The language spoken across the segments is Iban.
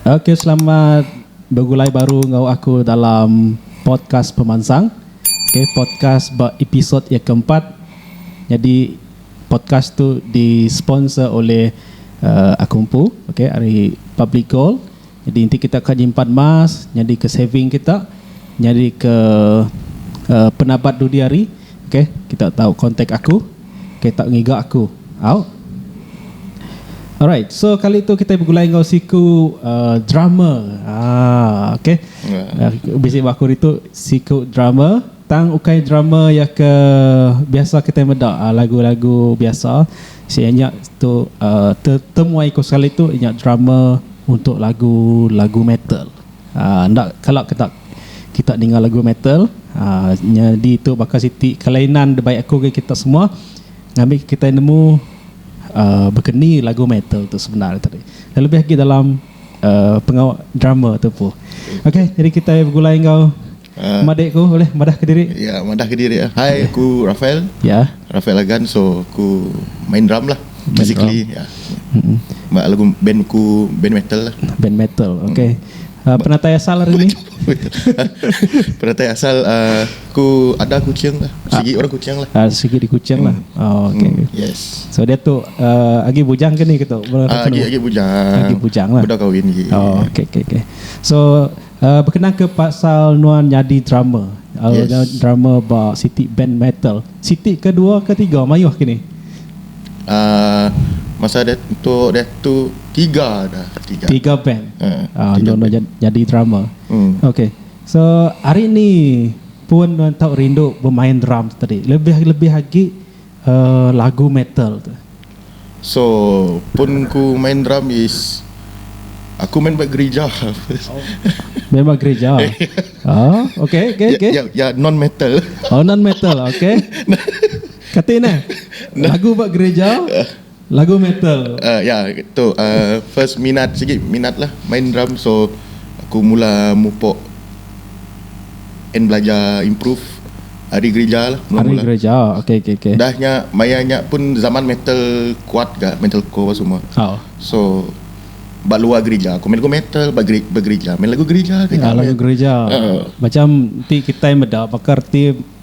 Okey selamat begulai baru enggau aku dalam podcast pemansang. Okey podcast ba episod iya ke empat. Nyadi podcast tu di sponsor oleh aku empu okey ari Public Gold. Nyadi enti kita ka nyimpan emas nyadika saving kita nyadika penabat dudi hari okay kita tau contact aku okay tau ngiga aku au. Alright so kali tu kitai begulai enggau siku drummer aaa okay bisi ba aku hari tu siku drummer. Tang ukai drama iya ke biasa kitai meda lagu-lagu biasa sia nya tu temuai ku sekali tu nya drama untuk lagu lagu metal enda kala kita kita ninga lagu metal nyadi tu baka siti kelainan dibai aku enggau kita semua ngambi kitai nemu baka ni lagu metal tu sebenar tu deh kelebih agi dalam pengawa drama tu empu. Okey jadi kitai begulai enggau. Madik ku ulih madah ke diri. Ya madah ke diri eh. Hai aku Rafael. Ya. Rafael Agan so aku main drum lah. Basically ya. Ba lagu band ku band metal lah. Band metal okay. Penatai asal ari ni. Penatai asal aku ada kuching lah. Sigi orang kuching lah. Sigi di kuching lah. Oh okay. Yes. So dia tu agi bujang ke ni ke tu. Agi bujang. Agi bujang lah. Udah kawin agi. Oh okay okay okay. So. Bekenang ke pasal nuan nyadi drummer, drummer ba siti band metal, siti ke dua ke tiga mayuh ke ni? Masa diatu, diatu tiga dah. Tiga band enda nuan nyadi drummer. Okay, so hari ni pun nuan tau rindu bemain drum tadi lebih lebih agi. lagu metal tu. So pun ku main drum is aku main ba gerija. Main ba gerija. Oh okay okay okay. Ya ya non metal. Oh non metal okay. Kati neh lagu ba gerija. Lagu metal. Uh ya tu uh first minat sigi minat lah main drum so aku mula mupok and belajar improve ari gerija lah mula mula. Ari gerija okay okay okay. Dah nya maya nya pun zaman metal kuat ga metal core apa semua. Oh. So ba luar gerija aku main lagu metal ba geri ba gerija main lagu gerija gerija. Lagu gerija. Uh. Macam ti kitai meda baka reti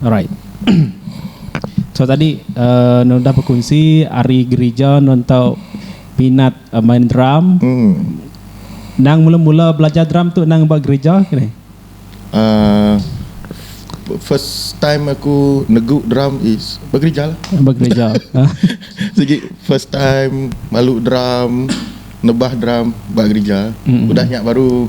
Alright. So tadi nuan udah bekunsi ari gerija nuan tau minat main drum. Endang mula-mula belajar drum tu endang ba gerija ke ni? First time aku negu drum is ba gerija lah. Ba gerija. Sigi first time malu drum, nebah drum ba gerija. Udah nya baru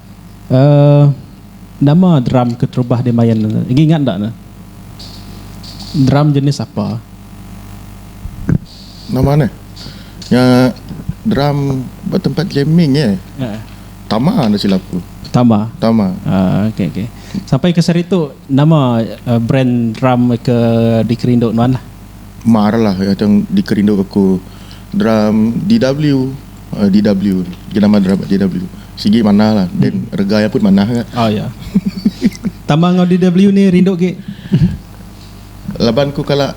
Uh nama drum keterubah dimain ne agi ingat enda ne drum jenis apa. Nama ne nya drum ba tempat jamming eh tama enda silap ku. Tama. Tama. Uh okay okay sampai ke seri tu nama brand drum ke dikerindu nuan lah. Mar lah tang dikerindu aku drum DW. DW Jenama drama DW sigi manah lah then rega iya pun manah ga. Oh iya. Tambah enggau DW ni rindu agi. Laban ku kala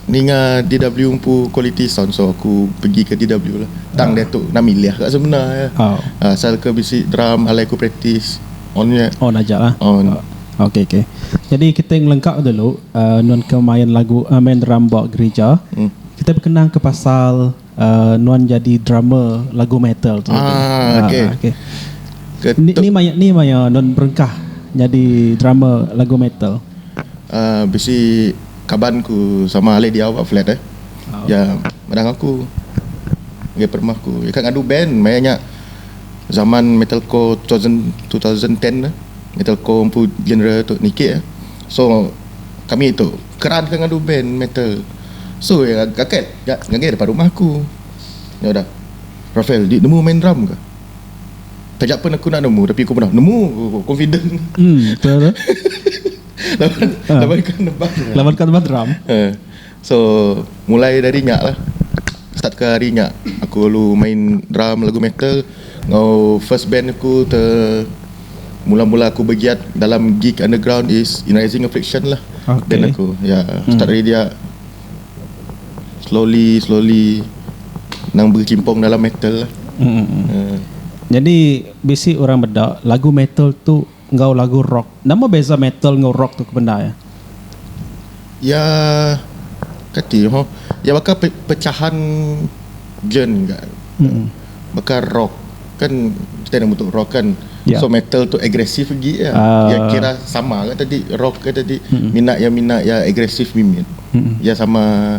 ninga DW empu kualiti sound so aku pegi ke DW lah. Tang oh. diatu na milih ga semena ya. Oh. Uh, asal ke bisi drum alai ku praktis on ya. On aja lah. On. Oh. Okey okey. Jadi kita ngelengkap dulu uh, nun ke main lagu uh, main drum bawa gereja. Hmm. Kita berkenang ke pasal uh, nuan jadi drummer lagu metal tu. Ah, okey. Ah, okay. Ni, ni maya ni maya nuan berengkah jadi drummer lagu metal. Uh, bisi kaban ku sama alih dia awak flat eh. Oh. Ya, madang aku. Ngai permah ku. Ya, ngadu band maya nya zaman metalcore 2000, 2010 eh. Metalcore empu genre tu niki eh. So kami tu Keran ke ngadu band metal. So iya gaget ga ngagai depan rumah aku. Nya udah. Rafael, di nemu main drum ke? Taja pen aku enda nemu tapi aku meda nemu ku aku confident. Em tu tu. laban laban ka nebang. Laban ka nebang drum. Ha. So mulai dari nya lah. Start ke hari nya aku lalu main drum lagu metal enggau first band aku te mula-mula aku begiat dalam gig underground is in rising affliction lah okay. band aku ya yeah. hmm. start dari dia slowly slowly nang berkimpung dalam metal lah hmm. uh. jadi bisi orang beda lagu metal tu enggau lagu rock nama beza metal enggau rock tu kebenda ya Iya kati ho iya baka pecahan gen ga baka rock kan kita enda mutu rock kan so metal tu aggressive agi iya iya kira sama ga tadi rock ga tadi mina iya mina iya aggressive mimit iya sama.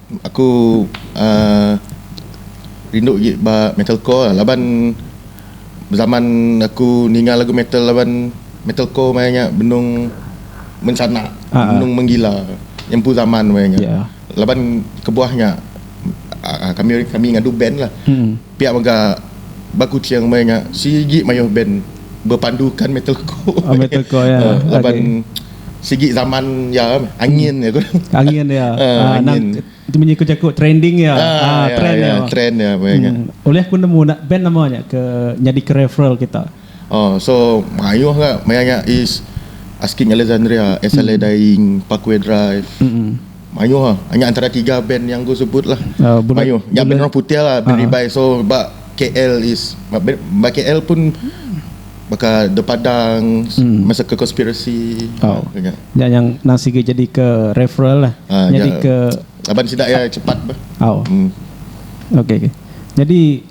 Aku uhh rindu agi ba metalcore laban zaman aku ninga lagu metal laban metalcore maya nya benung menchana benung menggila nyempu zaman maya nya laban kebuah nya uhh kami kami ngadu band lah. Pia mega ba Kuching meh nya sigi mayuh band bepandukan metalcore laban sigi zaman iya meh angin iya ko. Angin iya nang tu menyiku jaku trending iya trend iya meh nya. Ulih aku nemu band nama nya ke nyadika referral kita. Ohh so mayuh ga maya nya is asking alexandria sla dying parkway drive mayuh ah nya antara tiga band yang ku sebut lah mayuh nya band orang putih lah band ribai so ba KL is ba KL pun baka the padang massacre conspiracy ku nya nya yang nang sigi jadi ke referral lah nyadi ke laban sida iya cepat bah uhh ok ok nyadi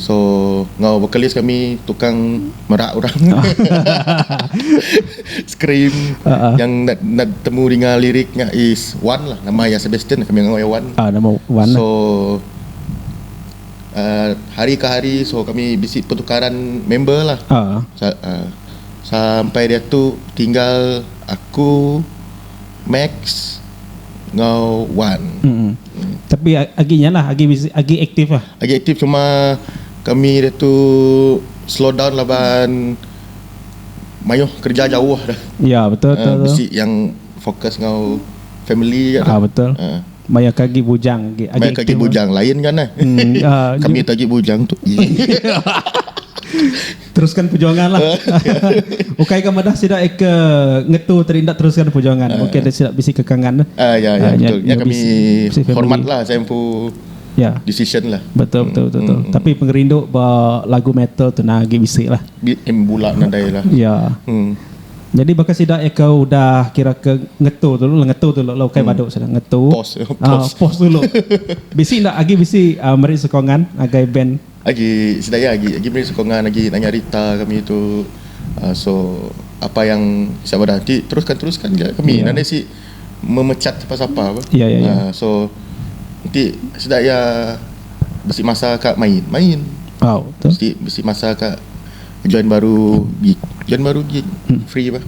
So enggau vocalist kami tukang merak orang scream uh-huh. yang nak nak temu dengan lirik nya is one lah nama ya Sebastian kami enggau ya one. Ah uh, nama one. Lah. So uh, hari ke hari so kami bisi pertukaran member lah. Uh-huh. Sa, uh, sampai dia tu tinggal aku Max enggau Wan. Mm-mm. Tapi agi nya lah agi agi aktif lah. Agi aktif cuma kami dia tu slow down laban mayuh kerja jauh dah. Ya betul betul. Uh, bisi yang fokus ngau family ya. Ah betul. Uh. Maya kagi bujang agi Maya kagi bujang lah. lain kan eh. Hmm, uh, kami tagi bujang tu. Teruskan perjuangan lah. Ukai ga madah sida ke ngetu tadi enda teruskan perjuangan. Uh, Mungkin ada sida bisi kekangan. Ah uh, ya ya uh, betul. Ya, ya kami hormat lah saya empu ya. decision lah. Betul betul betul. Hmm, betul. Hmm, Tapi hmm. pengerindu ba lagu metal tu nah agi bisi lah. Em bula nadai lah. ya. Hmm. Jadi baka sida eka eh, udah kira ke ngetu dulu lah ngetu dulu lah ukai hmm. baduk sida ngetu. Pos. Uh, pos dulu. bisi ndak agi bisi uh, meri sokongan agai band Agi sida iya agi agi meri sokongan agi nanya rita kami tu so apa yang siap madah ti teruskan teruskan ja kami enda isi memecat siapa siapa apa so enti sida iya bisi masa ka main main enti bisi masa ka join baru gig join baru gig free bah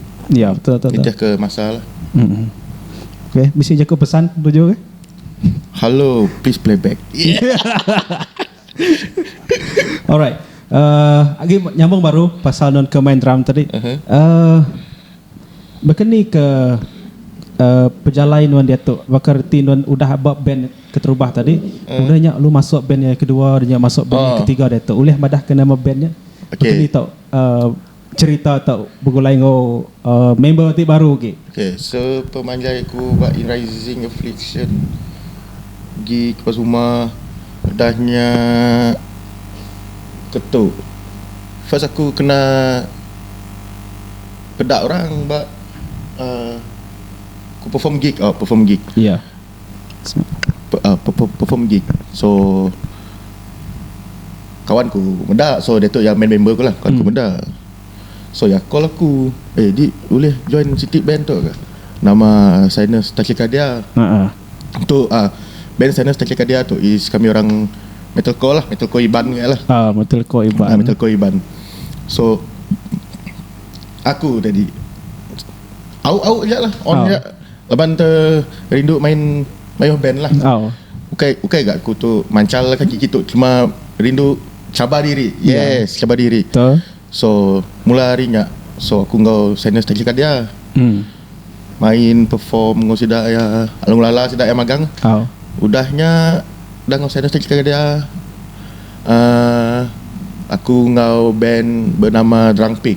nitihka masa lah. Bisi jaku pesan tuju. Hello, please play back. Alright. Uh, agi nyambung baru pasal non ke main drum tadi. Uh-huh. Mhm. Uh, Bekeni ke uh, pejalai nuan diatu baka reti nuan udah ba band keterubah tadi uh. udah nya lu masuk band yang kedua nya masuk band oh. yang ketiga diatu ulih madah ke nama band nya okay. Bekeni tau uh, Cherita tau begulai enggau member ti baru agi. Okay, so pemanjai aku ba In Rising Affliction gi kepas uma udah nya ketu first aku kena peda orang ba uhh aku perform gig uhh perform gig. perform gig so kawan ku meda so diatu iya main member ku lah kawan ku meda so iya call aku eh dik ulih join siti band tu ke nama sinus tachycardia tu ah band sinus tachycardia tu is kami orang metal core lah metal core iban nya lah metal core iban so aku jadi au au ja lah on ja Laban te rindu main mayuh band lah. Ukai ukai ga aku tu manchal kaki kitu cuma rindu cabar diri. Yes, cabar diri. So mula hari nya so aku enggau Sainers Taxi Cab dia main perform enggau sida iya lalu ngelala sida iya magang. Udah nya udah enggau Sainers Taxi Cab dia uhh aku enggau band benama Drunk Pig.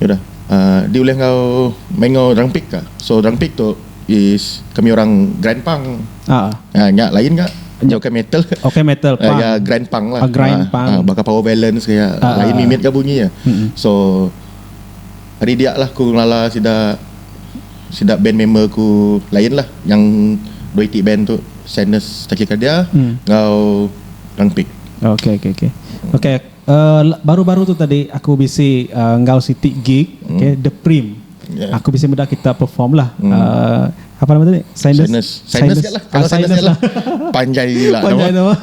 Udah di ulih enggau main enggau orang pik ka. So orang pik tu is kami orang grand pang. Ah. Uh, nya lain ka. Nya okay metal. Okay metal. Uh, ya grand pang lah. Uh, grand uh, pang. Uh, baka power balance kaya uh, lain uh, mimit ka bunyi ya. Uh, so hari dia lah ku lala sida sida band member ku lain lah yang dua iti band tu Sadness Tachycardia hmm. ngau Rangpik. Okay, okay, okay. Okay, Baru-baru tu tadi aku bisi enggau siti gig okay The Prim aku bisi meda kita perform lah apa nama tadi Sinus Sinus Sinus lah panjai gila panjai nama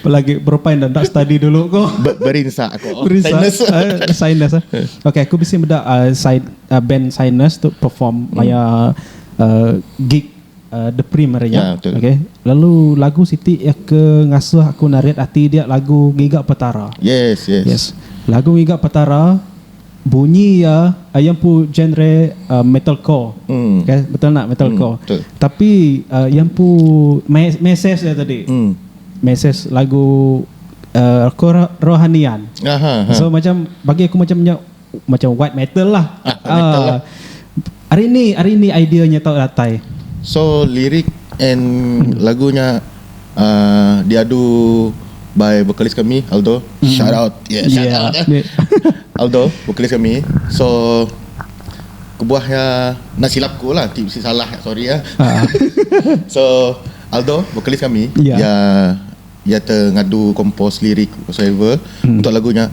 pelagi berupai enda enda study dulu ko berinsa ko Sinus Sinus okay aku bisi meda band Sinus tu perform maya gig The Prim ari nya. Okay. Lalu lagu siti iya ke ngasuh aku narit ati dia lagu Ngiga Petara. Yes, yes. Yes. Lagu Ngiga Petara bunyi iya iya empu genre uh, metalcore. Hmm. Okay, betul nak metalcore. Hmm, betul. Tapi uh, iya empu message dia tadi. Hmm. Message lagu uh, rohanian. Aha, aha. So macam bagi aku macam nya macam white metal lah ah, white metal uh, lah. hari ni hari ni idea nya tau datai so lirik and hmm. lagunya uh, diadu by vokalis kami Aldo hmm. shout out yeah, shout yeah. out eh. Aldo vokalis kami so kebuahnya nak silap ku lah si salah sorry ya uh. so Aldo vokalis kami yeah. ya Iya te ngadu kompos lirik whatsoever untuk lagu nya.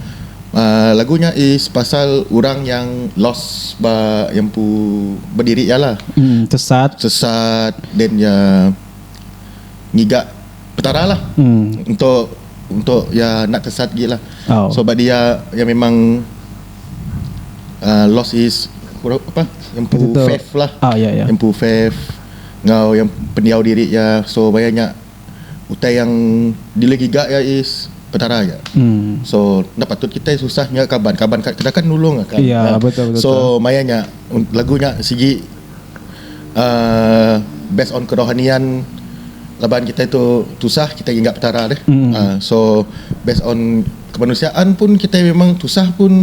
Aaa lagu nya is pasal orang yang lost ba iya empu bediri iya lah. Sesat. Sesat then iya ngiga Petara lah untuk untuk iya enda sesat agi lah. So bagi iya iya memang aaa lost his apa iya empu faith lah. Iya empu faith enggau iya pendiau diri iya. So baya nya utai yang dili giga iya is Petara aja. Hmm. So enda patut kita susah nya kaban. Kaban ka kita kan nulung akan. Iya, yeah, betul betul. So maya nya lagu nya sigi uh, based on kerohanian laban kita itu tusah kita ingat Petara deh. Hmm. Uh, so based on kemanusiaan pun kita memang tusah pun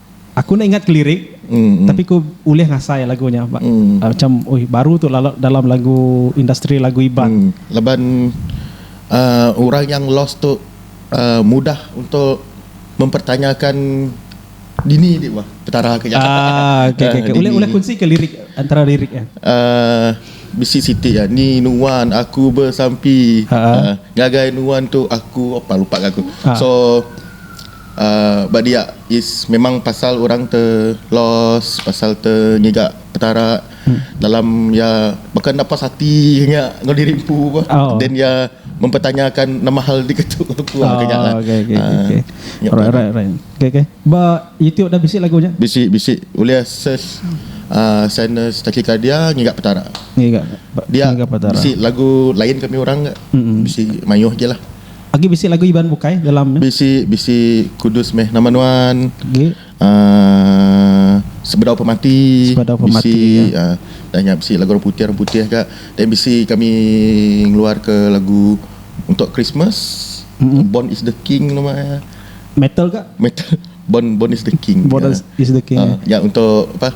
Aku enda ingat ke lirik tapi ku ulih ngasai lagu nya macam oi baru tu lalat dalam lagu industri lagu Iban. Laban uhh orang yang lost tu uhh mudah untuk mempertanyakan dini di bah petara ke nyata uhh dini. Ulih kunsi ke lirik antara lirik nya. Uhh bisi siti iya ni nuan aku besampi uhh ngagai nuan tu aku apa lupa ga aku. So. ba dia is memang pasal orang te loss pasal te ngiga petara dalam ia baka enda puas ati nya enggau diri empu bah then ia mempertanyakan nama hal diketu aku ah ke nya lah ah bisi bisi ulih ses uhh sadness tachycardia ngiga petara dia bisi lagu lain kami orang ga bisi mayuh agi lah. Agi bisi lagu Iban bukai dalam ne. Bisi bisi kudus meh nama nuan. Agi. Uh, sebedau pemati. Sebedau pemati. Bisi ya. uh, dah nya bisi lagu orang putih orang putih ga. Dan bisi kami ngeluar ke lagu untuk Christmas. Mm-hmm. Born is the King nama ya. Metal ga? Metal. Born Born is the king. Born is the king. Uh, nya untuk apa?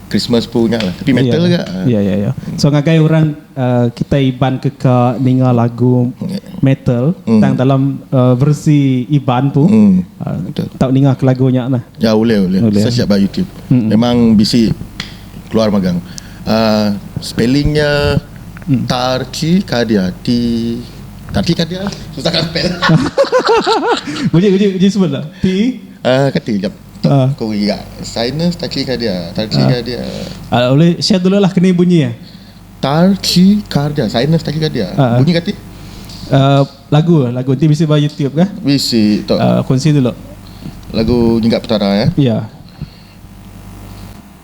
Christmas pun nya lah. Tapi metal yeah. juga. Ya ya ya. So ngagai orang uh, kita Iban ke ka ninga lagu metal mm. tang dalam uh, versi Iban pun. Mm. Uh, tak ninga ke lagu nya lah. Ya boleh boleh. boleh. Saya siap ba YouTube. Mm-mm. Memang bisi keluar magang. Uh, spellingnya mm. Tarci Kadia T Kati ka dia susah ka spell. Uji uji uji sebut la. Ti. Ah kati jap. Ko giga sinus tachi ka dia. Tachi ka dia. Ah ulih share dulu lah keni bunyi ya. Tachi ka dia sinus tachi ka dia. Bunyi kati. Ah lagu lagu ti bisi ba YouTube ka. Bisi tok. Ah kunsi dulu. Lagu nyiga petara ya. Ya.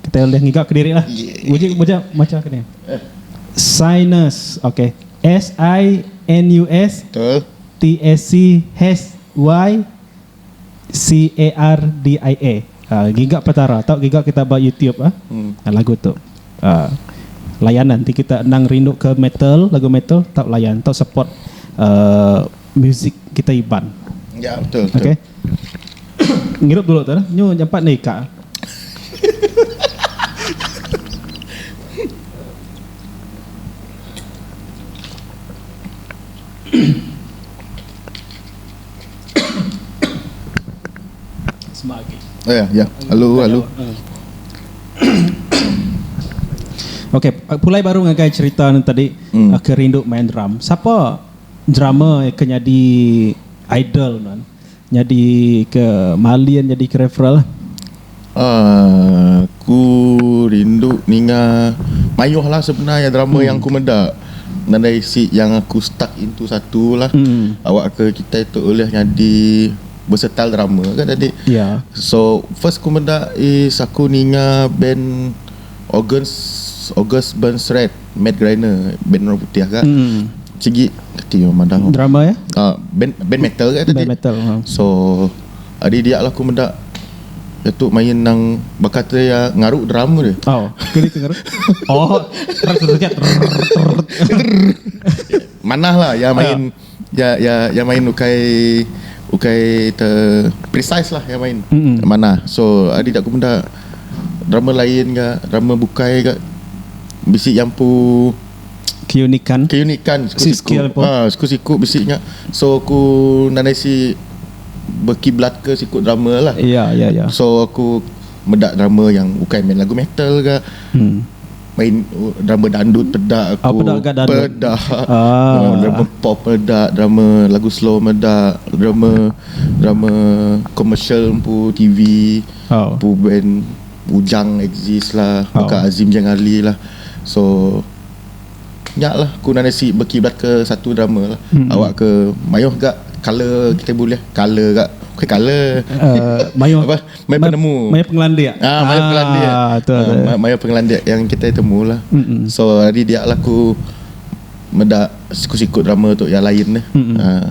Kitai ulih ngiga ke diri lah. Uji beja macha ke ni. Sinus. Ok. S I N U S. Betul. T A C H Y C A R D I A. Ah, giga Petara tau giga kita ba YouTube ah. Hmm. Lagu tu. Ah. Layan lah enti kita endang rindu ke metal, lagu metal tau layan tau support ah musik kita Iban. Ya, betul betul. Ok. Ngirup dulu tu dah. Nyu nyampat enda ika. Sema agi. Ya, ya. Alu, alu. Okey, pulai baru ngagai cerita ne tadi ke rindu main drum. Sapa drama ke nyadi idol nuan nyadi ke malin nyadi ke referral lah. Aaa ku rindu ninga mayuh lah sebena iya drama hmm. yang ku meda nadai isi yang aku stuck into satu lah hmm. awak ke kita itu ulih nyadi versatile drama kan tadi yeah. so first ku meda is aku ninga band August August Burns Red Matt Greiner band orang putih agak mm. sigi keti orang madah drama ya uh, band band metal agak tadi band metal ha. so hari dia lah aku meda itu main nang bakat dia ya, ngaru drum dia. Oh, kiri ke ngaru. Oh, terus terus terus. Manah lah ya main. Oh. Iya iya iya main ukai ukai te precise lah iya main. Mm-mm. Manah. So adi da ku menda drama lain ga drama bukai ga bisi iya empu Keunikan. keunikan siku Si skill siku. empu. Ah siku siku bisi nya. So aku nadai si berkiblat ke siku drama lah. Iya iya iya. So aku meda drama yang ukai main lagu metal ga. Mm. main uh, drama dandut peda aku Ah, peda kat dandut. peda Ah. Oh, drama pop peda drama lagu slow meda drama drama commercial empu TV Oh. empu band Ujang exist lah Oh. Baka Azim Jang Ali lah so nyak lah aku nang nasi berkiblat ke satu drama lah Hmm. awak ke mayuh gak color kita boleh color gak ke color Uh, mayuh Apa? Maya penemu. Maya pengelandik. Ah, maya pengelandik. Ah, tu. Ah, maya pengelandik yang kita temu lah. Mm-mm. So, hari dia lah aku meda siku-siku drama tu yang lain lah. Mm-mm. Ah.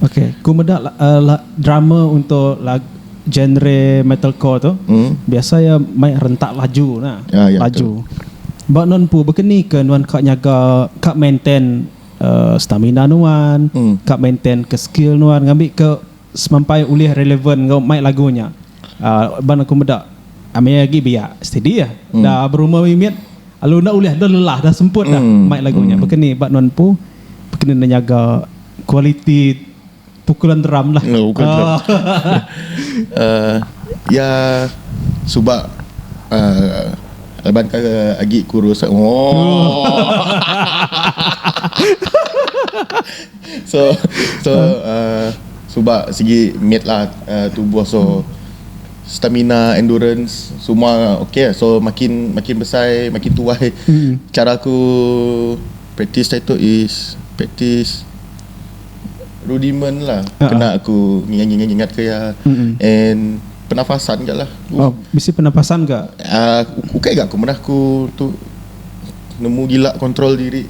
Okay, ku meda la, uh, la, drama untuk lag, genre metalcore tu. Mm. Biasa ya mai rentak laju nah. Ah, ya, laju. Betul. Ba non pu bekeni ke nuan kak nyaga kak maintain uh, stamina nuan, mm. kak maintain ke skill nuan ngambil ke Semampai ulih relevan enggau mai lagu nya ban aku meda maya agi biak steady ah da berumah mimit lalu enda ulih dah lelah dah semput dah mai lagu nya baka ni ba nuan empu baka ni enda nyaga kualiti pukulan drum lah iya suba laban ke agi kurus. So so uhh suba sigi mit lah uhh tubuh so stamina endurance semua okay so makin makin besai makin tuai cara ku practice hari tu is practice rudiment lah kena aku ngingat ngingat ngingat ke iya and pernafasan ga lah uhh ukai ga ku meda ku tu nemu gila control diri.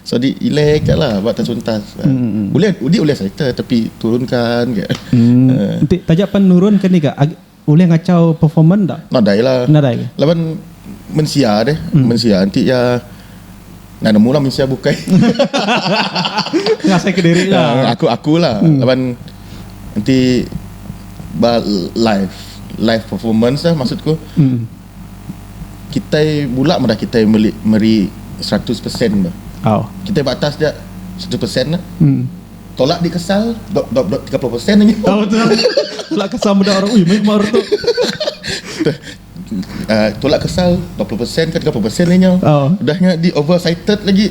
Sadi ilek ka lah ba tachuntas. Ulih udi ulih serita tapi turun kan ka. Enti taja pan nurun ka ni ka ulih ngachau performance dak? Nadai lah. Nadai ka. Laban mensia deh. Mensia enti iya enda nemu lah mensia bukai. Ngasai ka diri lah. Aku aku lah laban enti ba live live performance lah maksud ku. kitai bula madah kitai meli meri seratus persen bah kitai ba atas dia seratus persen lah tolak di kesal dua dua dua tiga puluh persen aja tolak kesal dua puluh persen ke tiga puluh persen inya udah nya di over cited lagi.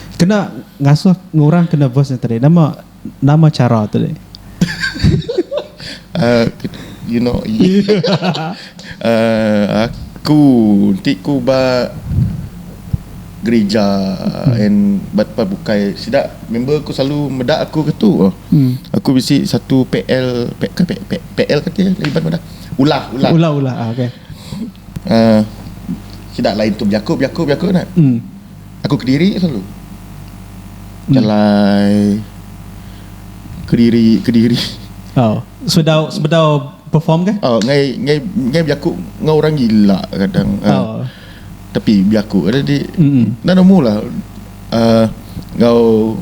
Kena ngasuh ngurang kena verse nya tadi nama nama cara tu deh. uh, you know uh, aku ti ku ba gereja hmm. and but pa bukai sida member aku selalu meda aku ke tu hmm. aku bisi satu PL PL ke PL, PL ke ti libat meda ulah ulah ulah ulah ah, okey uh, sida lain tu biaku biaku biaku nak hmm. Aku kediri selalu. Hmm. Jalai kediri kediri. Oh, sebedau sebedau perform ke? Oh, ngai ngai ngai biaku ngai orang gila kadang. Ah. Oh. Uh, tapi biaku ada di. Mm. Nana mula. Uh, ngau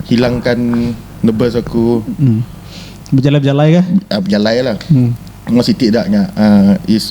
hilangkan nebas aku. Mm. Berjalan-berjalan ke? Uh, berjalan lah. Mm. Masih tidak nya. Uh, is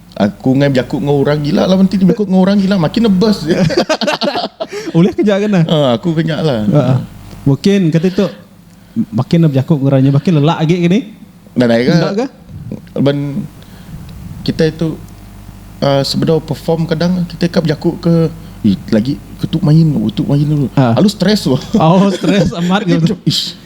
Aku ngai bejaku enggau orang gila laban ti bejaku enggau orang gila makin nebas. Ulih ke nya kena? Ha aku ke nya lah. Ha. Makin kati tu makin ne bejaku enggau orang nya makin lelak agi ke ni? Enda dai ga. Enda ga. Laban kita itu uh, sebedau perform kadang kita ka bejaku ke lagi ke tu main, oh, tu main dulu. Ha. Lalu stres tu. Oh, stres amat ke. Ish.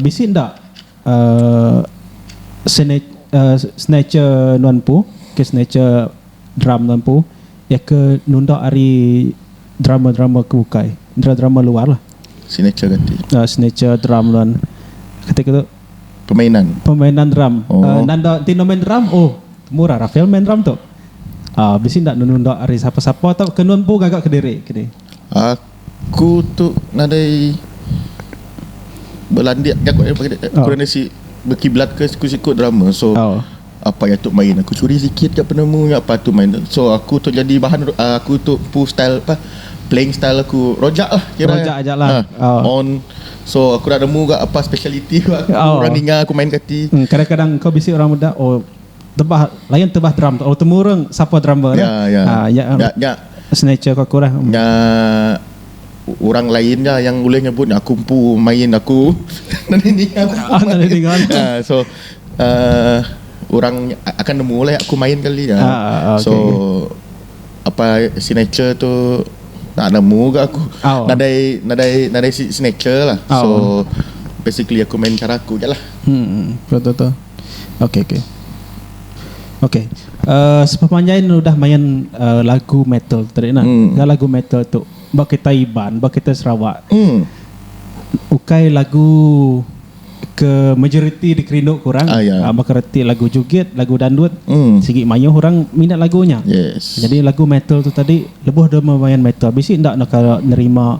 Bisi enda snatcher nuan empu ke snatcher drum nuan empu iya ke nunda ari drama-drama ke bukai drama-drama luar lah snatcher drum nuan kata ke tu permainan drum nanda enti enda main drum oh murah rafael main drum tu bisi enda nunda ari sapa-sapa tauka nuan empu gaga kediri kini. Ku tu nadai belandik jaku eh pagi oh. kurang si berkiblat ke siku siku drama so oh. apa yang tu main aku curi sikit ke penemu yang apa tu main so aku tu jadi bahan uh, aku tu pu style apa playing style aku rojak lah kira rojak aja lah ha, oh. on so aku dah nemu gak apa speciality aku oh. orang ninga aku main kati hmm, kadang-kadang kau bisi orang muda oh tebah layan tebah drum tu. Oh temurung sapa drummer ya. Ya ya. Ha nya nya, nya signature aku lah. Nya orang lain nya yang ulih nyebut aku empu main aku. Nani ni aku. Ah, nani dengan. Uh, so uh, orang akan nemu lah aku main kali ya. Ah, ah, ah so okay. apa signature tu tak nemu ke aku. Oh. Nadai nadai nadai signature lah. Oh. So basically aku main cara aku je lah. Hmm, hmm. betul betul. Okey okey. Okey. Uh, sepemanjai ni udah main uh, lagu metal tadi nah. Hmm. Dah lagu metal tu ba kita Iban, ba kita Sarawak. Hmm. Ukai lagu ke majoriti dikerindu kurang ah, yeah. uh, baka reti lagu jugit lagu dandut mm. sigi mayuh orang minat lagunya yes. jadi lagu metal tu tadi lebuh dia main metal bisi ndak nak nerima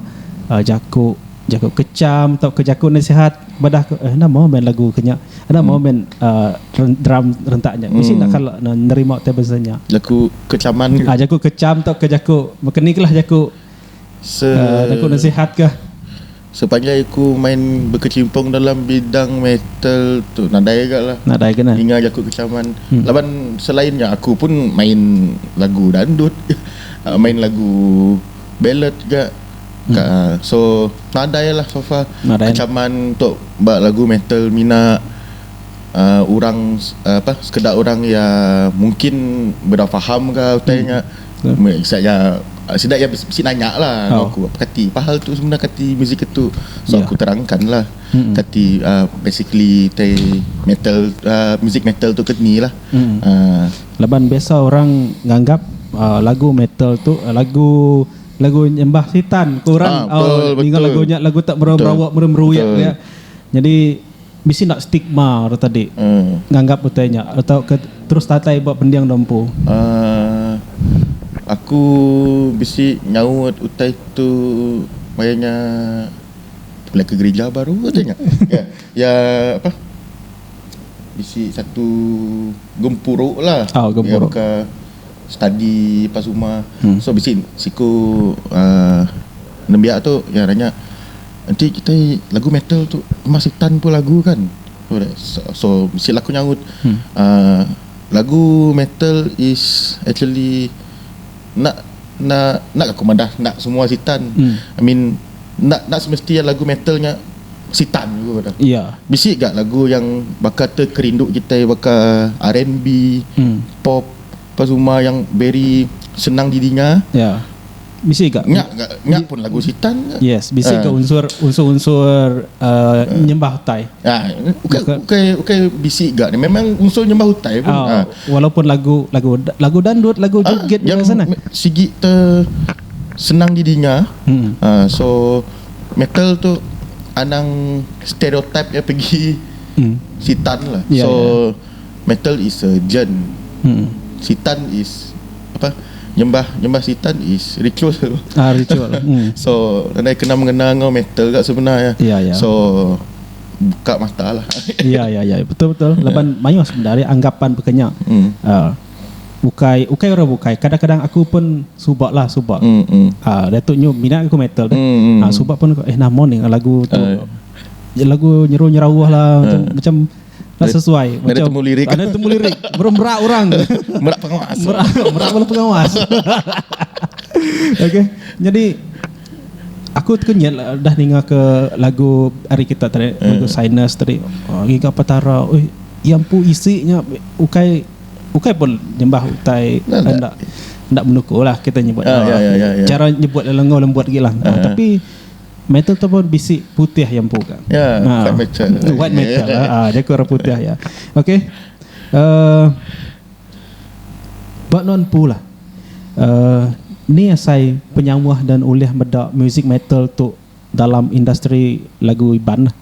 uh, jaku Jaku kecham tauka jaku nasihat badah ke eh enda maw main lagu ke nya. Enda maw main um drum rentak nya. Bisi enda kala ne nerima table dance nya. Jaku kechaman ke. Ah jaku kecham tauka jaku maka ni kala jaku Se um jaku nasihat kah. Sepanjai aku main bekecimpung dalam bidang metal tu nadai aga lah. Nadai ke ne. Ninga jaku kechaman. Laban selain nya aku pun main lagu dandut, main lagu ballad ga. Ka so nadai lah so far nadai. ancaman untuk ba lagu metal mina uh, orang uh, apa sekeda orang ya mungkin beda faham ke utai hmm. nya hmm. sida ya sida ya bisi nanya lah oh. aku apa kati apa hal tu sebenarnya kati muzik itu so yeah. aku terangkan lah hmm. kati uh, basically tai metal uh, muzik metal tu ketni lah hmm. uh, laban biasa orang nganggap uh, lagu metal tu uh, lagu lagu nyembah sitan ko orang ninga lagu nya lagu tak berawa berawa meri meruik dia nyadi bisi enda stigma orang tadi nganggap utai nya atau ke terus datai ba pending dau empu. Aku bisi nyaut utai tu maya nya bepilih ke gerija baru utai nya ya apa bisi satu gempuru lah baka study pas rumah so bisi siku uhh nembiak tu iya nanya enti kitai lagu metal tu rumah sitan pun lagu kan so bisi lah aku nyaut uhh lagu metal is actually enda enda enda aku madah enda semua sitan I mean enda enda semesti lagu metal nya sitan ku baka bisi ga lagu yang baka tu kerindu kitai baka R&B pop Pas uma yang very senang di dinga. Ya. Yeah. Bisi ga nya ga nya pun lagu sitan ga. Yes, bisi ga uh. unsur unsur-unsur uh, uh. nyembah utai. Ah, uh. ukai ukai ukai bisi ga ni memang unsur nyembah utai pun. Oh, uh. Walaupun lagu lagu lagu dandut, lagu joget uh, yang sana. Sigi te senang di dinga. Hmm. Uh, so metal tu anang stereotip ya pergi hmm. sitan lah. Yeah, so yeah. metal is a jern sitan is apa nyembah nyembah sitan is ritual ah ritual hmm. so nadai kena mengena ngau metal gak sebenar ya yeah, yeah. so buka mata lah ya ya ya betul betul ya. laban yeah. mayuh sebenarnya anggapan pekenya hmm. uh, bukai bukai orang bukai kadang-kadang aku pun subak lah subak hmm, hmm. Uh, datuk nyu minat aku metal hmm, hmm. Uh, subak pun eh nama ni lagu tu uh, lagu nyeru nyerauh lah uh. macam, macam Dah sesuai. Dah temu lirik. Dah temu lirik. Beremberak orang. Merak pengawas. Merak, merak bala pengawas. okay. Jadi, aku terkenyit lah dah ninga ke lagu hari kita tadi. Hmm. Lagu Sinus tadi. Oh, Giga Petara. Ui, yang pu isinya ukai ukai pun nyembah utai nah, anda anda menuku lah kita nyebut uh, ya, ya, ya, ya. cara nyebut lelengau lembut gila uh, uh. tapi Metal tu pun bisi putih ya empu ka. Ya, ha. white metal. White metal. Ha, ha. dia ke orang putih ya. Okey. Uh, ba non pu lah. Uh, ni asai penyawah dan ulih meda music metal tu dalam industri lagu Iban lah.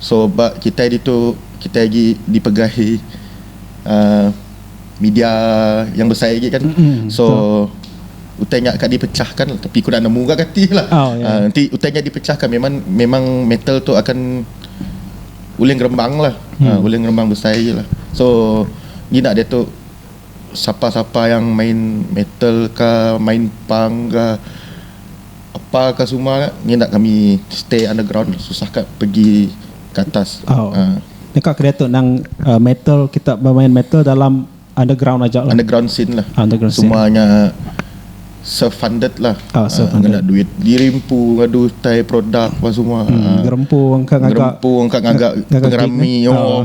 so ba kitai ditu kitai agi dipegai uhh media yang besai agi kan so utai nya ka dipecahkan tapi ku enda nemu ga gati lah uhh enti utai nya dipecahkan memang memang metal tu akan ulih ngerembang lah ulih ngerembang besai agi lah so ngina diatu sapa-sapa yang main metal ka main punk ka. Apa ka suma nya ngi enda kami stay underground susah ka pegi ka atas. Aaa. Deka ke diatu nang metal kita bemain metal dalam underground aja lah. Underground scene lah. Underground scene. Suma nya self funded lah. Aaa self funded. Ngena duit diri empu ngadu utai produk apa semua. Aaa. Ngerempu engka ngaga. Ngerempu engka ngaga pengerami.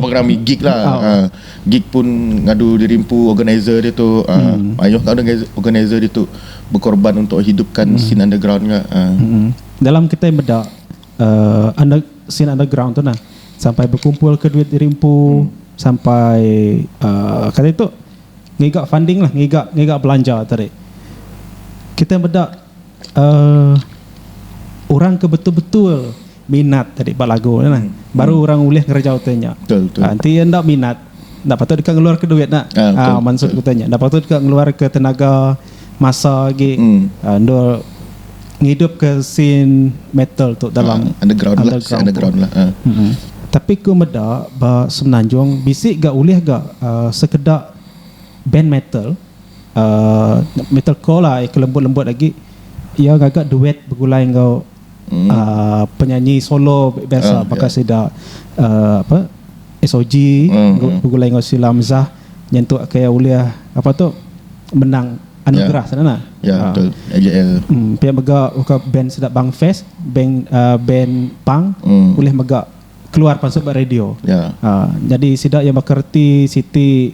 Pengerami gig lah. Aaa. Gig pun ngadu diri empu organizer ditu mayuh ka organizer ditu bekorban untuk hidupkan scene underground ga. Dalam kitai meda under scene underground tu nah sampai bekumpul ke duit diri empu sampai ka ditu ngiga funding lah ngiga ngiga belanja tadi. Kitai meda orang ke betul-betul Minat tadi ba lagu nya nah. Baru orang ulih ngereja utai nya. Enti iya enda minat, enda patut deka ngeluarka duit nya. Aa mansut utai nya. Enda patut ka ngeluarka tenaga, masa agi endur ngidupka scene metal tu dalam underground tu. Tapi ku meda ba Semenanjung bisi ga ulih ga sekeda band metal aa metalcore lah ke lembut-lembut agi iya ngaga duet begulai enggau Uh, penyanyi solo biasa uh, baka yeah. sida uh, apa SOG mm. Mm-hmm. begulai dengan Sila Mzah nyentuk ke ulih apa tu menang anugerah yeah. sana lah. Ya yeah, uh. betul. AJL. Hmm, pia mega uka band sida Bang Fest, band uh, band Pang mm. ulih mega keluar pasal radio. Ya. Yeah. Uh, jadi sida yang bekerti siti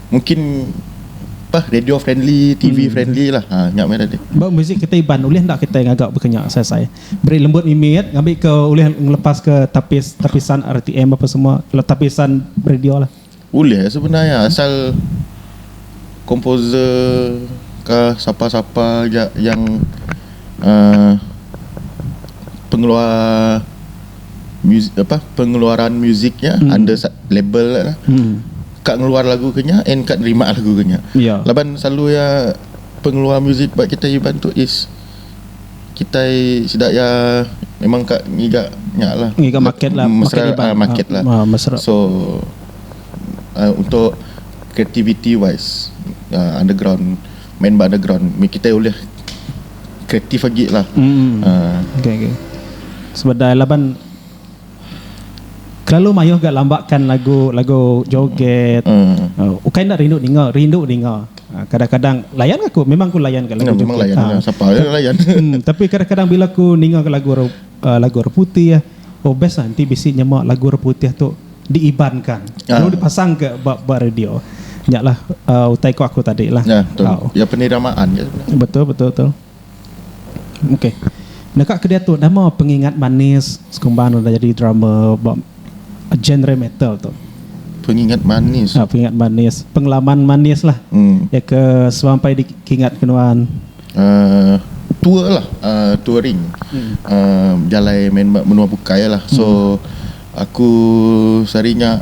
Mungkin apa radio friendly TV friendly lah ha nya meh tadi. Ba muzik kita Iban ulih enda kitai ngaga baka nya Sai Sai. Beri lembut mimit ngambi ke ulih ngelepaska tapis tapisan RTM apa semua kelo tapisan radio lah. Ulih sebenar iya asal komposer ka sapa-sapa aja yang um pengeluar muzik apa pengeluaran muzik nya under label nya lah. ka ngeluar lagu ke nya and ka nerima lagu ke nya yeah. laban selalu iya pengeluar muzik ba kitai iban tu is kitai sida iya memang ka ngiga nya lah ngiga market lah market iban uh, market lah uh, uh, so uh, untuk creativity wise uh, underground main ba underground kita boleh kreatif lagi lah mm. uh. okay, okay. sebab dah laban Kelalu mayuh ga lamba kan lagu lagu joget ukai enda rindu ninga rindu ninga kadang kadang layan ga ku memang ku layan ga lagu joget tapi kadang kadang bila ku ninga ga lagu lagu orang putih oh best lah enti bisi nyema lagu orang putih tu di iban ka lalu di pasang ka ba ba radio nya lah utai ku aku tadi lah betul betul. Okey. Deka ke diatu nama pengingat manis sekumba anu udah jadi drama ba genre metal tu? Pengingat manis. Ha, pengingat manis, pengalaman manis lah. Hmm. Ya ke semampai dikingat ke nuan. Uh, tour lah, uh, touring. Hmm. Uh, jalai main menua bukai lah. So hmm. Aku sehari nya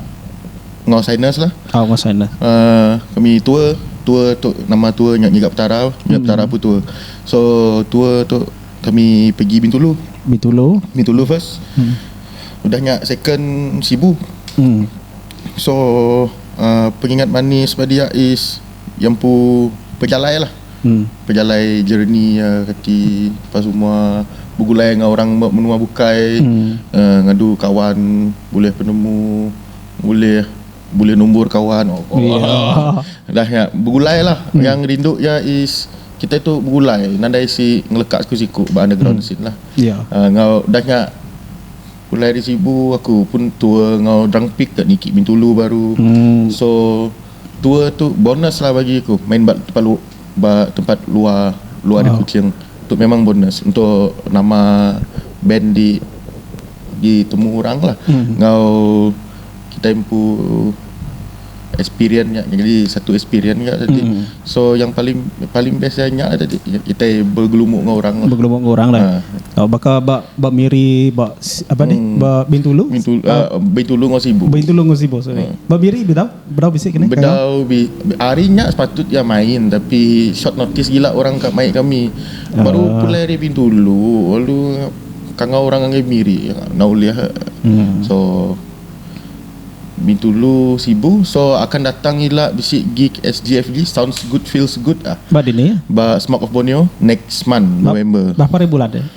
enggau Sinus lah. Oh enggau Sinus. Uh, kami tour, tour tu nama tour nya nyiga petara, nyiga hmm. petara pun tour. So tour tu kami pergi Bintulu. Bintulu. Bintulu first. Hmm. Udah nya second Sibu. Hmm. So uh, pengingat manis pada dia is yang pu pejalai lah. pejalai jereni iya reti lepas tu mua begulai enggau orang menua bukai ngadu kawan bulih penemu bulih bulih numbur kawan udah nya begulai lah yang rindu iya is kitai tu begulai nadai isi ngeleka siku siku ba underground sin lah enggau udah nya pulai ari sibu aku pun tua enggau drumpick ka niki bintulu baru so. Tour tu bonus lah bagi aku main ba tempat lu ba tempat luar luar di kuching tu memang bonus untuk nama band di di temu orang lah enggau kitai empu experience nya jadi satu experience nya tadi so yang paling paling best iya nya tadi kitai begelumu enggau orang lah begelumu enggau orang lah tau baka ba ba miri ba apa ni ba bintulu bintulu enggau sibu bintulu enggau sibu sorry ba miri be tau. Bedau bi hari nya sepatut iya main tapi short notice gila orang ka mai kami baru pulai ari bintulu lalu kangau orang ngagai miri enda ulih so bintulu sibu so akan datang ila bisi gig SGFD sounds good feels good ah ba smoke of borneo next month november.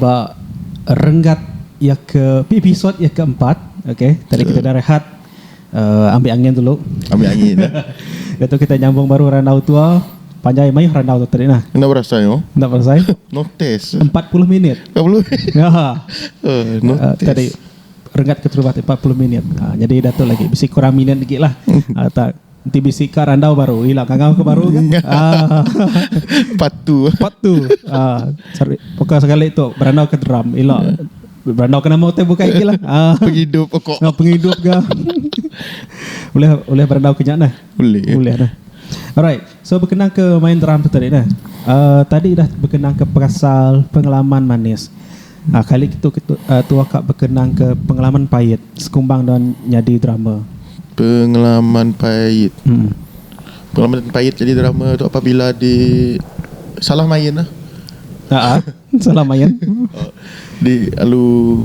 ba renggat iya ke episode iya ke empat ok tadi kita dah rehat ambi angin dulu ambi angin dah tu kita nyambung baru randau tua panjai mayuh randau tu tadi nah enda berasai oh enda berasai no test 40 minit 40 ya no uh, test tadi renggat ke terubah 40 minit uh, ah, jadi dah tu lagi bisi kurang minit lagi lah uh, tak Enti bisi ka randau baru ila ngangau ke baru ke. Part 2. Part 2. Ah, sorry. Poka sekali tu berandau ke drum ila. Berandau ke nama utai bukai gilah. Ah. Pengidup pokok. Ngau pengidup ga. Ulih ulih berandau ke nya nah. Ulih. Ulih nah. Alright. So berkenang ke main drum tu tadi nah. Ah, tadi dah berkenang ke perasal pengalaman manis. Kali ke tu tua ka bekenang ke pengelaman pait sekumbang nuan nyadi drama. Pengelaman pait. Pengelaman pait nyadi drama tu apabila di salah main lah. Salah main. Di alu.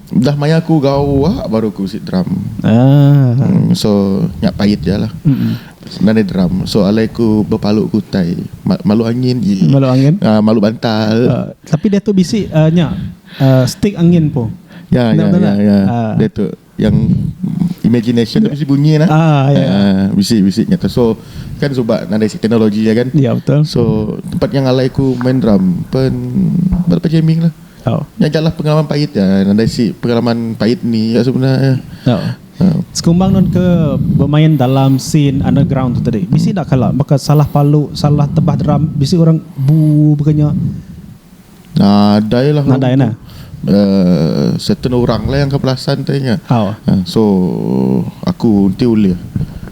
Udah maya aku gawa baru aku bisi drum. Ah. Hmm, so nya pait ja lah. Mm-mm. Senang ni drum. So alai aku bepalu ke utai. Ma- Malu angin. Ye. Malu angin. Ah, malu bantal. Uh, tapi dia tu bisi uh, nya uh, stick angin po. Ya, Benar, ya, benar ya, tak? ya. Ah. Dia tu yang imagination tu bisi bunyi lah. Ah, ya. Ah, bisi bisi nya tu. So kan sebab nadai si teknologi ya kan. Ya betul. So tempat yang alai aku main drum pen berapa jamming lah. Tau. Nya galah pengalaman pait iya nadai isi pengalaman pait ni iya sebena iya. Tau. Sekumbang nun ke bemain dalam scene underground tu tadi bisi enda kala baka salah palu salah tebah drum bisi orang buu baka nya. Nadai lah. Nadai nah. Uh, certain orang lah yang ke perasan tadi nya. Tau. So aku enti ulih.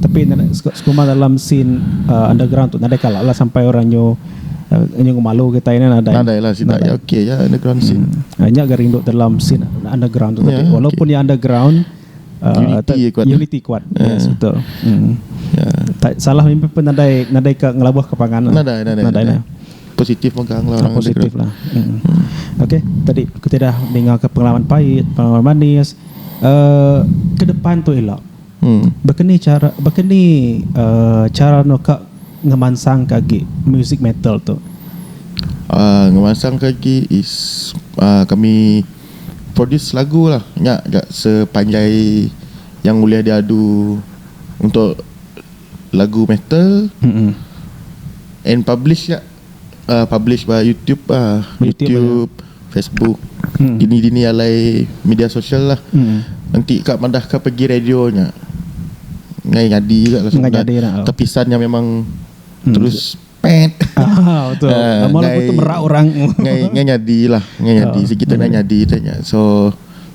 Tapi sekuma dalam scene uh, underground tu nadai kalah lah sampai orang nyu uh, nyu ngemalu kita ini nadai. Nadai lah sida ya okey ya underground hmm. scene. Hmm. Nya ga rindu dalam scene underground tu yeah, tapi walaupun okay. ya underground uh, unity, ya kuat. unity kuat. Yeah. Yes, betul. Hmm. Yeah. Ya. salah mimpi pun nadai nadai ke ngelabuh ke pangan. Lah. Nadai nadai. nadai, nadai. nadai positif megang lah orang positif lah. Hmm. Okey, tadi kita dah dengar ke pengalaman pahit, pengalaman manis. Uh, ke depan tu elok. Baka ni chara baka ni chara enda ka ngemansangka agi musik metal tu? Ngemansangka agi is kami produce lagu lah nya ga sepanjai yang ulih diadu untuk lagu metal and publish nya. uh, publish ba YouTube ah, YouTube, YouTube Facebook. Hmm. Dini-dini alai media sosial lah. Hmm. Nanti kak madah kak pergi radio nya. Ngai ngadi juga lah Ngai jadi lah. Tepisan yang memang hmm. terus pet. Ah, betul. Uh, Amal ngai, betul merak orang. ngai, ngai nyadi lah. Ngai nyadi. Oh. Sikit hmm. ngai nyadi tanya. So,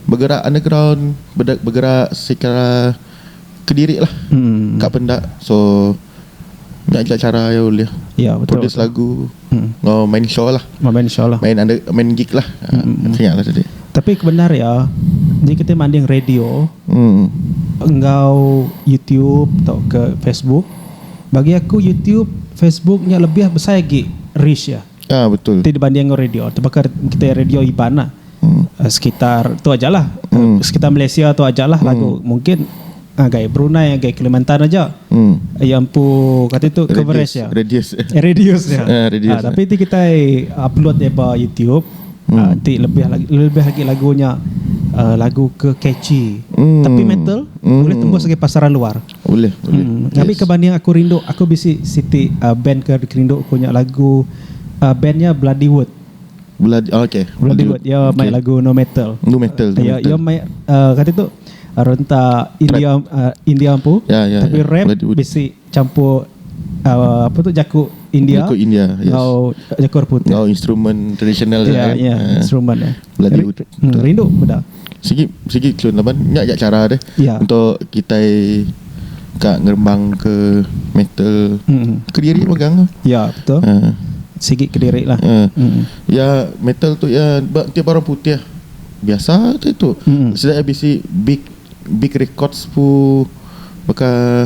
bergerak underground. Bergerak secara kediri lah. Hmm. Kak pendak. So, Ngajak chara iya ulih Ya betul. Produce betul. lagu hmm. Ngau main show lah Ngau main show lah Main, under, main gig lah hmm. Tengah lah tadi Tapi kebenar ya Jadi kita manding radio hmm. Enggau YouTube Atau ke Facebook Bagi aku YouTube Facebook ni lebih besar lagi Reach ya Ah betul. Ti dibanding enggau radio tebaka kitai radio Iban lah. Sekitar tu aja lah. Sekitar Malaysia tu aja lah lagu mungkin ngagai Brunei ngagai Kalimantan aja iya empu kati tu coverage iya. Radius. Radius iya. Ah, radius. Ah, tapi ti kitai upload iya ba YouTube ah, ti lebih lagi lebih lagi lagu nya ah, lagu ke catchy. Tapi metal boleh tembus ngagai pasaran luar. Ulih ulih. Kami ke banding aku rindu aku bisi siti band ke kerindu aku nya lagu band nya bloody wood. Bloody ok. Bloody wood iya mai lagu nu metal. Nu metal. Iya iya mai kati tu rentak india india empu tapi rap bisi campur apa tu jaku india enggau jaku orang putih. Enggau instrumen tradisional dia kan. Instrumen dia. Rindu meda. Sigi sigi cun laban nya aja chara deh yeah. untuk kitai ka ngerembang ke metal mm. kediri megang. Ya yeah, betul. Uh. Sigi kediri lah. Uh. Mm. Ya metal tu ya tiap orang putih biasa tu itu. Mm. Sida bisi big big records pu baka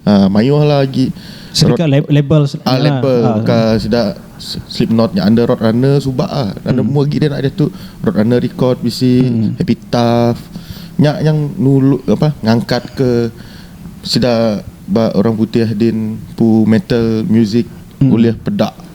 Uh, mayuh lah agi sedikit lab, label ah, label uh, ke uh, sida Slipknot nya under Road Runner suba ah dan hmm. mu agi dia nak dia tu Road Runner record bisi hmm. Happy Tough nya yang nulu apa ngangkat ke sida ba orang putih din pu metal music hmm. ulih pedak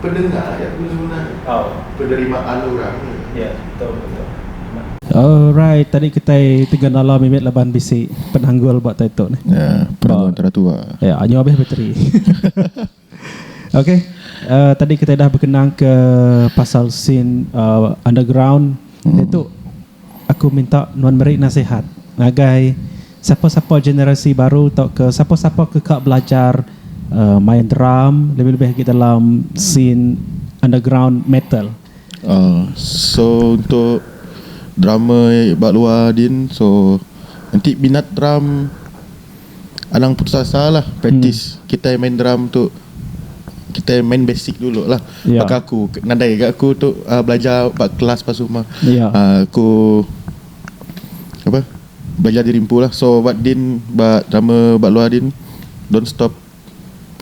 Pendengar ya aku semina ni. Penerimaan orang ni ya. Alright tadi kitai tiga nala mimit laban bisi penanggul ba tai tu nih. Penanggul tera tua. Ya anyu abih bateri. Okay tadi kitai dah bekenang ke pasal scene underground iaitu Aku minta nuan meri nasihat ngagai sapa-sapa generasi baru tauka sapa-sapa ke ka belajar main drum lebih-lebih agi dalam scene underground metal. Aaa so untuk drummer ba luar din so enti minat drum Anang putus asa lah Practice hmm. Kitai main drum tu Kitai main basic dulu lah yeah. Baka aku Nadai ke aku tu uh, Belajar Bak kelas pas rumah yeah. Ya. uh, Aku Apa Belajar diri empu lah So buat din Bak drama Bak luar din Don't stop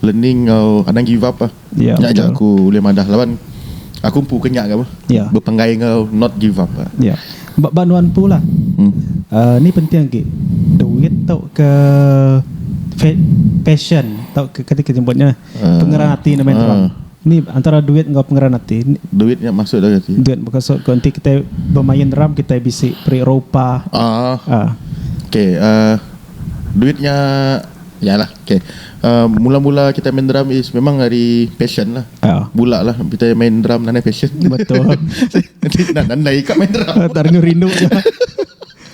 learning enggau anang give up ah. Yeah, nya aja aku ulih madah laban aku empu ke nya ga bah. Yeah. Bepenggai enggau not give up ah. Yeah. Ba ba nuan empu lah. Hmm. Uh, ni penting agi. Duit tau ke passion tau ke kata kita nyebutnya uh, pengeran hati nama uh, ni antara duit enggau pengeran hati duit yang masuk dah hati duit berkasut kau nanti kita bermain ram kita bisi peri ropa ah uh. uh. okay uh, duitnya ya lah Okay, mula-mula kitai main drum is memang ari passion lah. Bula lah kitai main drum nadai passion. Betul. Nak nadai ka main drum. Tadi nyu rindu nya.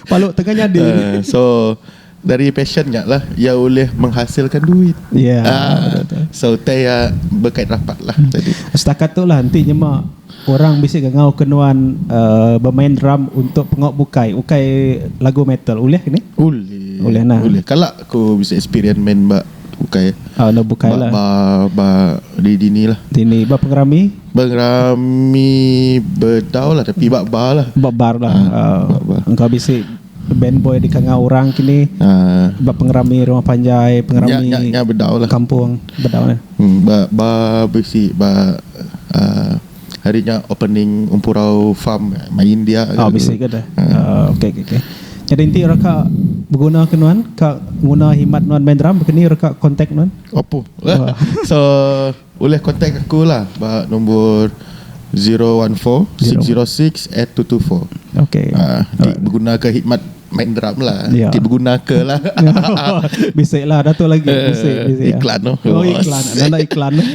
Palu tengah nyadi. So, dari passion nya lah iya ulih menghasilkan duit. So, utai iya bekait rapat lah. Setakat tu lah enti nyema. Orang bisi ga ngauka nuan bemain drum untuk pengawa bukai ukai lagu metal ulih ke ni? Ulih nah. Ulih. Kala aku bisi experience main ba ukai. Oh enda bukai lah. Ba ba di dini lah. Dini ba pengerami? Pengerami bedau lah tapi ba bar lah. Ba bar lah. Oh. Engkau bisi band boy di kangau orang ke ni ba pengerami rumah panjai, pengerami. Nya nya bedau lah. Kampung bedau nah. Ba ba bisi ba aaa hari nya opening Empurau Farm mai india ke. Oh bisi ke deh. Oh okey okey okey. Jadi enti orang ka beguna ke nuan ka nguna himat nuan main drum ke ni reka kontak nuan? Opo. So ulih kontak aku la ba nombor zero one four six zero six eight two two four. Okey. Aaa enti begunaka himat. Main drum lah yeah. Ti berguna ke lah Bisa lah Dato' lagi eh, Bisa, bisa ya. Iklan tu Oh iklan Nanda iklan eh,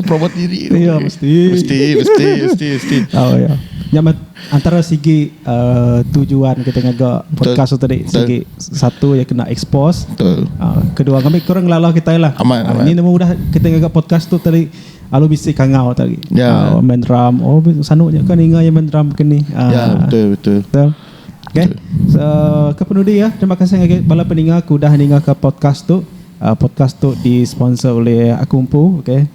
Promo diri Ya mesti Mesti Mesti Mesti, mesti. Oh ya Ya mat Antara segi uh, Tujuan kita ngaga Podcast tu tadi Segi Satu yang kena expose Betul uh, Kedua kami kurang lalah kita lah Aman, aman. Ini nama udah Kita ngaga podcast tu tadi Alu bisi kangau tadi Ya yeah. uh, Main drum Oh sanu je kan Ingat yang main drum kini uh, Ya yeah, betul Betul, betul. Okay, ke penudi ya, terima kasih ngagai bala peninga ke udah ninga ka podcast tu. Podcast tu di sponsor oleh aku empu, okay.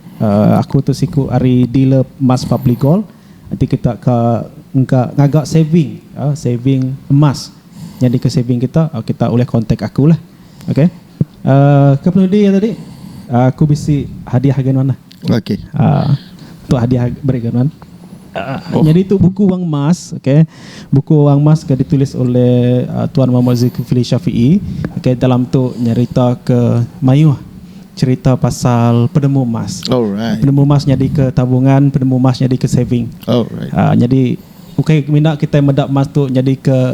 Aku tu siku ari dealer emas Public Gold enti kita ka engka ngaga saving, saving emas nyadi ke saving kita, kita ulih contact aku lah. Okay. Ke penudi iya tadi aku bisi hadiah ngagai nuan lah. Okey. Tu hadiah beri ngagai nuan. Nyadi tu buku Wang Emas okey. Buku Wang Emas ke ditulis oleh Tuan Mohamad Zulkifli Shafie okey dalam tu nyeritaka mayuh cherita pasal penemu emas. Penemu emas nyadika tabungan, penemu emas nyadika saving. Nyadi ukai mina kitai meda emas tu nyadika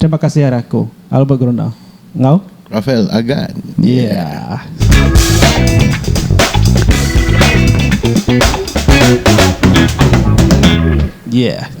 Terima kasih ari aku, Albert Groner enggau. Rafael Agan. Yeah. Yeah.